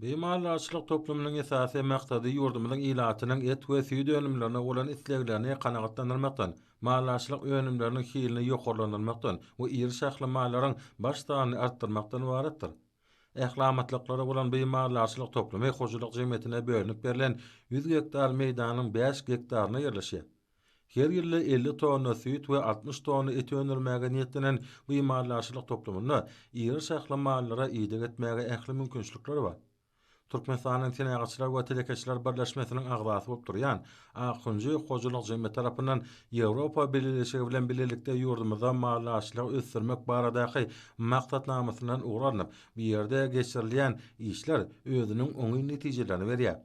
Bu maldarçylyk toplumynyň esasy maksady ýurdumyzyň ilatynyň et we süýt önümlerine bolan isleglerini kanagatlandyrmakdan, maldarçylyk önümleriniň hilini ýokarlandyrmakdan we iri şahly mallaryň baş sanyny artdyrmakdan ybaratdyr. Ähliamatlyklary bolan bu maldarçylyk toplumy hojalyk jemgyýetine bölünip berlen ýüz gektar meýdanyň bäş gektarynda ýerleşýär. Her ýylda elli tonna süýt we altmyş tonna et öndürmäge niýetlenen bu maldarçylyk toplumynda iri şahly mallara ideg etmäge ähli mümkinçilikler bar. Türkmenistanyň Senagatçylar we telekeçiler birleşmesiniň agzasy bolup durýan Akkunjy hojalyk jemgyýeti tarapyndan Ýewropa Bileleşigi bilen bilelikde ýurdumyzda maldarçylygy ösdürmek baradaky maksatnamasyndan ugur alnyp, bu ýerde geçirilýän işler özüniň oňyn netijelerini berýär.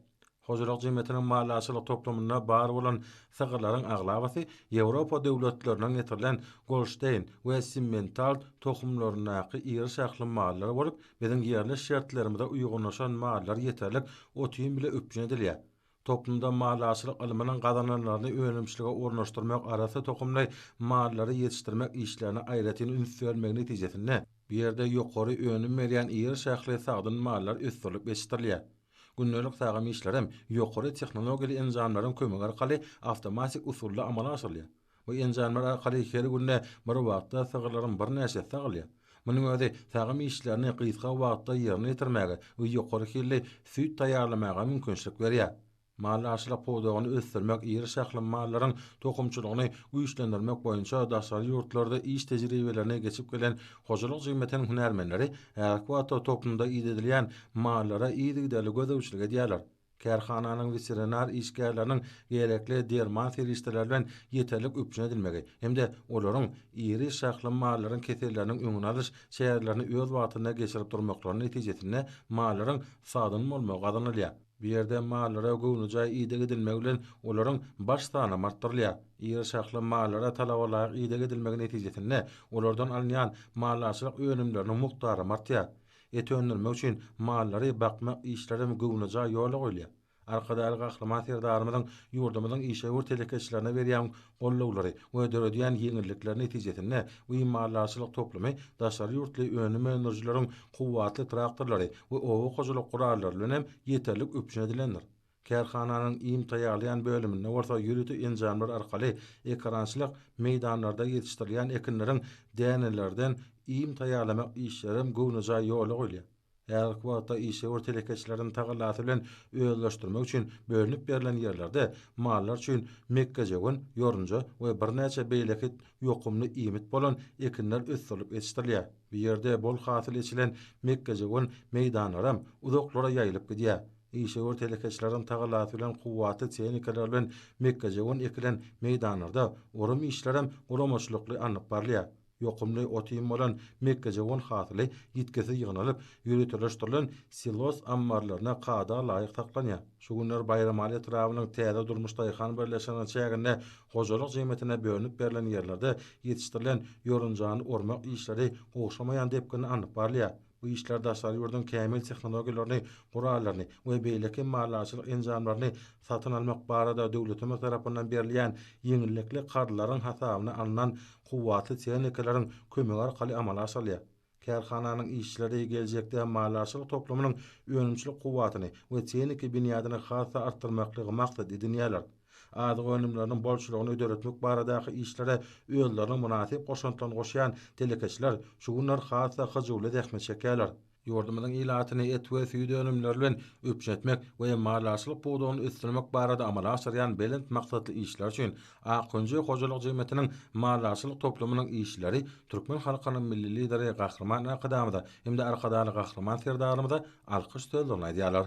Hojalyk jemgyýetiniň maliýeçilik toplumynda bar bolan sygyrlaryň aglabasy Ýewropa döwletlerinden getirilen Golşteýn we Simmental tohumlaryndaky iri şahly mallar bolup, biziň ýerli şertlerimize uýgunlaşan mallar ýeterlik ot-iým bile üpjün edilýär. Toplumda maliýeçilik ylmynyň gazananlaryny önümçilige ornaşdyrmak, arassa tohumly mallary ýetişdirmek işlerine aýratyn üns berilmegi netijesinde, bu ýerde ýokary önüm berýän iri şahly sagdyn mallar ösdürilip ýetişdirilýär. Gündelik tagam işlerem ýokary tehnologiýaly enjamlaryň kömegi arkaly awtomatik usulda amala aşyrylýar. Bu enjamlar arkaly her günde bir wagtda sygyrlaryň birnäçesi sagylýar. Munuň özi tagam işlerini gysga wagtda ýerine ýetirmäge we ýokary hilli süýt taýýarlamaga mümkinçilik berýär. Maldarçylyk pudagyny ösdürmek, iri şahly mallaryň tohumçylygyny güýçlendirmek boýunça daşary ýurtlarda iş tejribelerini geçip gelen Hojalyk jemgyýetiniň hünärmenleri häzirki wagtda toplumda idedilýän mallara yzygiderli gözegçilik edýärler. Kärhananyň weterinar işgärleriniň gerekli derman serişdeleri bilen ýeterlik üpjün edilmegi hem-de olaryň iri şahly mallaryň keselleriniň öňüni alyş çärelerini öz wagtynda geçirip durmaklarynyň netijesinde mallaryň sagdyn bolmagy gazanylýar. Bu ýerde mallara göwnejaý ideg edilmegi bilen olaryň baş sanam artdyrylýar. Iri şahly mallara talabalaýyk ideg edilmegi netijesinde olardan alynýan maldarçylyk önümleriniň mukdaram artýar. Et öndürmek üçin mallary bakmak işlerem göwnejaý ýola goýulýar. Arkadagly Gahryman Serdarymyzyň ýurdumyzyň işewür telekeçilerine berýän gollawlary we döredýän ýeňillikleri netijesinde we maldarçylyk toplumy daşary ýurtly önüm öndürijileriň kuwwatly traktorlary we oba hojalyk gurallary bilen hem ýeterlik üpjün edilendir. Kärhananyň iým taýýarlaýan bölüminde bolsa ýörite enjamlar arkaly ekerançylyk meýdanlarda ýetişdirilýän ekinleriň dänelerden iým taýýarlamak işlerem göwnejaý ýola goýulýar. Häzirki wagtda işewür telekeçileriň tagallasy bilen özleşdirmek üçin bölünip berlen ýerlerde mallar üçin mekgejöwen, ýorunja we birnäçe beýleki ýokumly iýmit bolan ekinler ösdürilip ýetişdirilýär. Bu ýerde bol hasyl eçilen mekgejöwen meýdanlaram uzaklara ýaýylyp gidýär. Işewür telekeçileriň tagallasy bilen kuwwatly tehnikalar bilen mekgejöwen ekilen meýdanlarda orym işlerem guramaçylykly alnyp barylýar. Ýokumly otyn bolan mekgejöwen hasyly ýitgisiz ýygnalyp, ýöriteleşdirilen silos ammarlarynda kada laýyk saklanýar. Şu günler Baýramaly etrabynyň Täze durmuş daýhan birleşiginiň çäginde hojalyk jemgyýetine bölünip berlen ýerlerde ýetişdirilen ýorunjany ormak işleri gowşamaýan depginde alnyp barylýar. Bu işler daşary ýurduň kämil tehnologiýalaryny, gurallaryny we beýleki maldarçylyk enjamlaryny satyn almak barada döwletimiz tarapyndan berilýän ýeňillikli karzlaryň hasabyna alnan kuwwatly tehnikalryň kömegi arkaly amala aşyrylýar. Kärhananyň işçileri geljekde maldarçylyk toplumynyň önümçilik kuwwatyny we tehniki binýadyny has-da artdyrmaklygy maksat edinýärler. Azyk önümleriniň bolçulygyny döretmek baradaky işlere özleriniň mynasyp goşantlaryny goşýan telekeçiler şu günler has-da hyjuwly zähmet çekýärler. Ýurdumyzyň ilatyny et we süýt önümleri bilen üpjün etmek we maldarçylyk pudagyny ösdürmek barada amala aşyrýan belent maksatly işler üçin Akwenje hojalyk jemgyýetiniň maldarçylyk toplumynyň işçileri türkmen halkynyň Milli Lideri Gahryman Arkadagymyza hem-de Arkadagly Gahryman Serdarymyza alkyş sözlerini aýdýarlar.